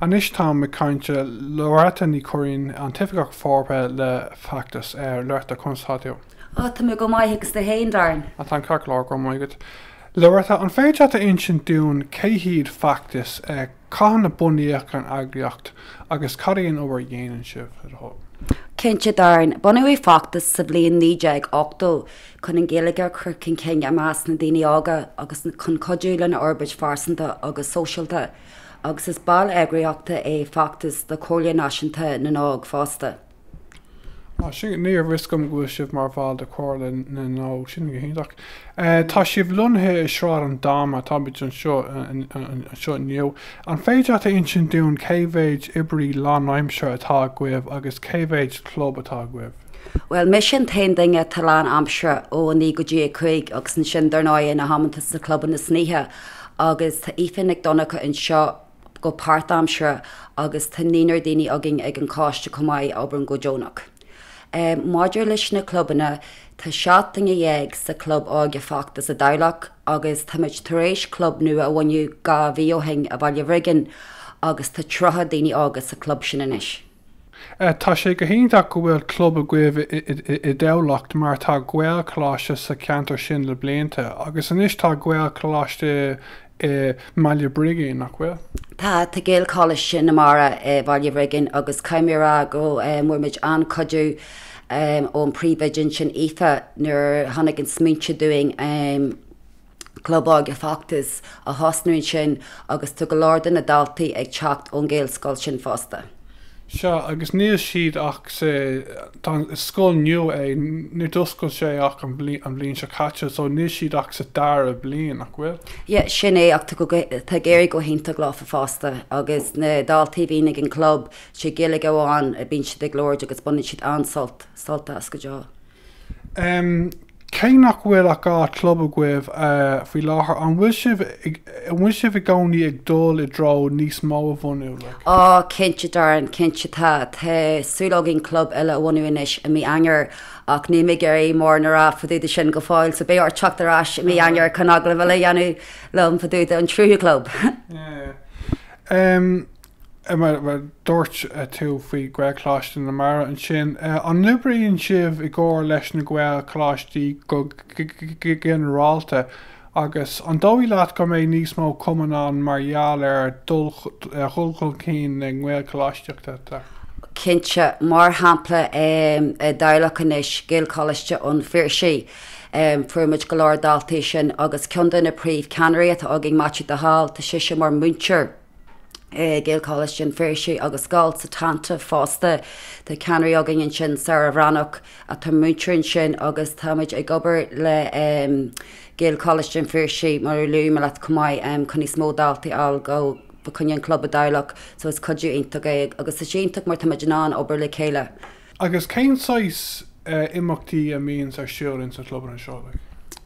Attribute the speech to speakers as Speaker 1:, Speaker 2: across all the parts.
Speaker 1: Anois táim ag caint le Loretta Ní Churraoin, an tOifigeach Forbartha le Feachtas. A Loretta, conas atá tú? Ah, tá mé go maith, agus tú féin, Darren? Ah, táim ceart go leor, go raibh maith agat. Loretta, an féidir leat a insint dúinn cé hiad Feachtas, cathain a bunaíodh an eagraíocht agus cad é an obair a dhéanann sibh, le do thoil? Cinnte, Darren. Bunaíodh Feachtas sa bhliain 1980 chun an Ghaeilge a chur chun cinn i measc na ndaoine óga agus chun cuidiú lena fhorbairt phearsanta agus sóisialta. agus is ball eagraíochta é Feachtas de Chomhairle Náisiúnta na nÓg fosta. Á, sin, ní raibh a fhios agam go bhfuil sibh mar bhall de Chomhairle na nÓg, sin go hiontach. Tá sibh lonnaithe i Sráid an Dáma, táimid anseo inniu. An féidir leat a insint dúinn cé mhéid oibrí lánaimseartha atá agaibh agus cé mhéid club atá agaibh? Bhuel, mise an t-aon duine atá lán aimseartha, ó 9 go dtí a 5, agus ansin, dar ndóigh, na hamanta sna clubanna san oíche, agus tá Aoife Nic Dhonncha anseo go páirtaimseartha agus tá naonúr daoine againn ag an coiste chomh maith a oibreann go deonach. Maidir leis na clubanna, tá seacht duine dhéag sa Chlub Óige Feachtas i dTamhlacht agus táimid tar éis club nua a bhunú dhá mhí ó shin i Bhaile Bhrigín agus tá tríocha daoine óga sa chlub sin anois. Tá sé go hiontach go bhfuil club agaibh i dTamhlacht mar tá Gaelcholáiste sa cheantar sin le blianta agus anois tá Gaelcholáiste i mBaile Brigín, nach bhfuil? Tá, tá Gaelcholáiste na Mara i Bhaile Bhrigín agus caithfidh mé a rá go bhfuair muid an-chuidiú ón bpríomhoide ansin, Aoife, nuair a tháinig an smaointe dúinn. Club óige Feachtas a thosnú ansin agus tá go leor de na daltaí ag teacht ón Ghaelscoil sin fosta. Sea, agus níl siad ach sa, tá an, is scoil nua é, níor d'oscail sé ach an bhliain, an bhliain seo caite so níl siad ach sa dara bliain, nach bhfuil? Yeah, sin é ach tá go, tá ag éirí go hiontach leo fosta agus na daltaí a bhíonn ag an club, sé Gaeilge amháin a bíonn siad ag labhairt agus baineann siad an-sult, sult as go deo. Cé nach bhfuil ach dhá chlub agaibh faoi láthair, an bhfuil sibh an bhfuil sibh i gcónaí ag dul i dtreo níos mó a bhunú? Like. Á, cinnte Darren, cinnte tá. Tá súil againn club eile a bhunú anois i mí Eanáir ach níl mé ag iarraidh mórán a rá fadúda sin go fóill, so beidh ort teacht ar ais i mí Eanáir chun agallamh eile a dhéanamh liom fadúda an tríú chlub. Yeah. e Mar a dúirt tú faoi Ghaelcholáiste na Mara ansin, an n-oibríonn sibh i gcomhar leis na Gaelcholáistí go ginearálta agus an dóigh leat go mbeidh níos mó cumann ann mar gheall ar dhul chun cinn na nGaelcholáistíochta? Cinnte. Mar shampla, i dTamhlacht anois, Gaelcholáiste an Phiarsaigh, fuair muid go leor daltaí sin agus ceann de na príomhcheannairí atá againn, Maitiú de Hál, tá seisean mar mhúinteoir, Gaelcholáiste an Phiarsaigh agus Scoil Santain fosta. Tá ceannairí againn ansin, Sara Bhreathnach atá múinteoir ansin agus táimid ag obair le Gaelcholáiste an Phiarsaigh mar a luaigh mé leat chomh maith chun níos mó daltaí a fháil fa' choinne an chlub i dTamhlacht so is cuidiú iontach é agus tá sé iontach mar táimid in ann obair le chéile. Agus cén saghas imeachtaí a mbíonns ar siúl ins an chlubanna seo, like?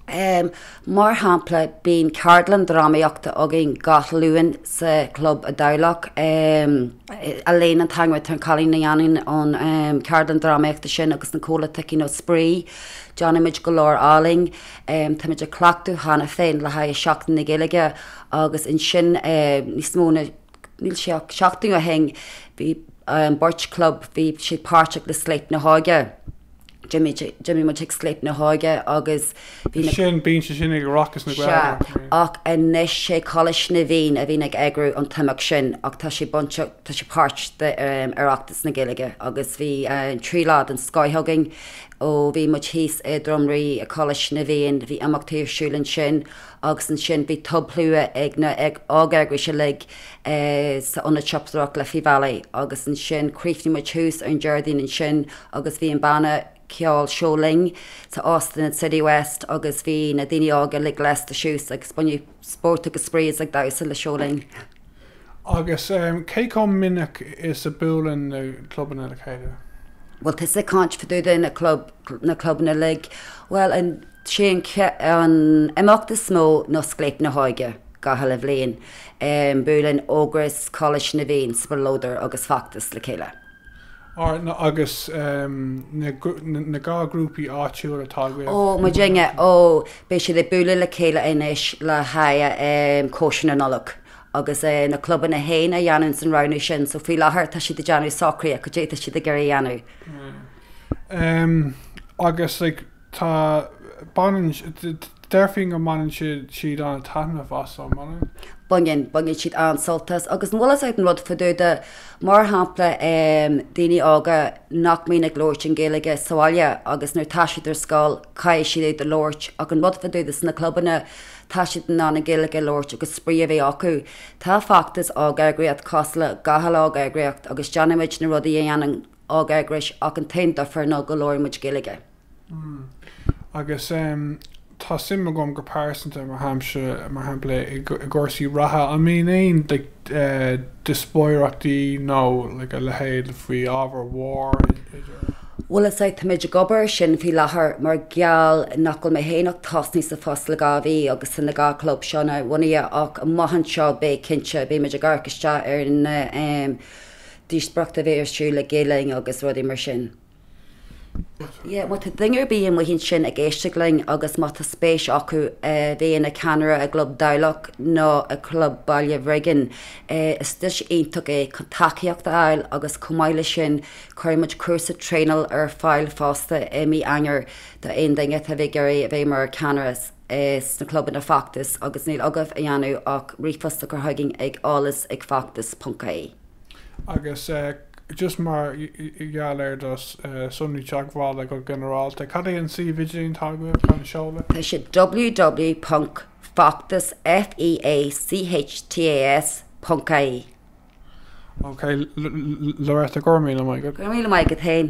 Speaker 1: Em, mar shampla, bíonn ceardlann drámaíochta againn gach Luan sa chlub i dTamhlacht, em, Elaine an t-ainm atá ar an cailín a dhéanann an, em, ceardlann drámaíochta sin agus na cúpla cluichí nó spraoi, déanaimid go leor ealaín. Em, táimid ag cleachtadh cheana féin le haghaidh Seachtain na Gaeilge agus ansin, eh, níos mó ná, níl, sé seachtaine ó shin, bhí beirt club, bhí siad páirteach le Scléip na hÓige. D'imigh muid chuig Scléip na hÓige agus bhí na. Sin, bíonn sé sin ag Oireachtas na Gaeilge. Sea, ach anois sé Coláiste na bhFiann a bhíonn ag eagrú an t-imeacht sin ach tá sé bainte, tá sé páirt d'Oireachtas na Gaeilge agus bhí trí lá den scoth againn ó bhí muid thíos i nDroim Rí ag Coláiste na bhFiann, bhí imeachtaí ar siúl ansin agus ansin bhí tobshlua ag na óg-eagrais uilig sa Ionad Siopadóireacht Liffey Valley agus ansin chríochnaigh muid thuas ar an Déardaoin ansin agus bhí an banna ceoil Seo Linn san Óstán Citywest agus bhí na daoine óga uilig lasta suas agus baineadh spórt agus spraoi as ag damhsa le Seo Linn. Agus cé chomh minic is a buaileann na clubanna le chéile? Bhfuil tusa ag caint fadúda na clubanna uilig, bhuel an. Sé an imeacht is mó ná Scléip na hÓige gach uile bhliain. Buaileann Ógras, Coláiste na bhFiann, Spleodar agus Feachtas le chéile. Ar na agus na dhá grúpaí áitiúil atá agaibh? Ó, muidinne, ó! Beidh siad ag bualadh le chéile anois le haghaidh cóisir na Nollag. Agus na clubanna fhéin a dhéananns an roghnú sin so faoi láthair tá siad ag déanamh socruithe cad é atá siad ag iarraidh a dhéanamh. Agus like. Tá, baineann, déarfainn go mbaineann siad, siad an-taitneamh as, an mbaineann? Baineann, baineann siad an-sult as agus an bhfuil fhios agat an rud fadúda, mar shampla em, daoine óga nach mbíonn ag labhairt an Ghaeilge sa bhaile agus nuair atá siad ar scoil caithfidh siad í a labhairt ach an rud fadúda sna clubanna tá siad in ann an Ghaeilge a labhairt agus spraoi a bheith acu. Tá Feachtas óg-eagraíocht cosúil le gach uile óg-eagraíocht agus déanaimid na rudaí a dhéanann ógeagrais ach an t-aon difear ná go labhraíonn muid Gaeilge. Mm. Agus em, tá suim agam go pearsanta, mar shampla, mar shampla i gcúrsaí reatha, an mbíonn aon like eh díospóireachtaí nó like a leithéid faoi ábhair mhóra. Bhuel is é, tá muid ag obair ar sin faoi láthair mar gheall nach bhfuil mé féin ach tosnaíthe sa phost le dhá mhí agus tá an dá chlub seo nuabhunaithe ach amach anseo beidh, cinnte, beidh muid ag amharc isteach ar na em díospóireachtaí a bheidh ar siúl le Gael Linn agus rudaí mar sin. Yeah, má tá duine ar bith amuigh ansin ag éisteacht linn agus má tá spéis acu a bheith ina ceannaire i gclub Dhamhliag nó i gclub Baile Bhrigin, is deis iontach é chun tacaíocht a fháil agus chomh maith leis sin cuirfidh muid cúrsa traenála ar fáil fosta i mí Eanáir do aon duine a bheadh ag iarraidh a bheith mar cheannaire sna clubanna Feachtas agus níl agaibh le déanamh ach ríomhphost a chur chugainn ag eolas ag feachtas.ie. Agus just mar gheall ar do sonraí teagmhála go ginearálta, cad é an suíomh idirlín atá agaibh, cén seoladh? Tá sé www.feachtas, F-e-a-c-h-t-a-s, ponc i-e. Ok, Loretta, go raibh míle maith agat. Go raibh míle maith agat féin.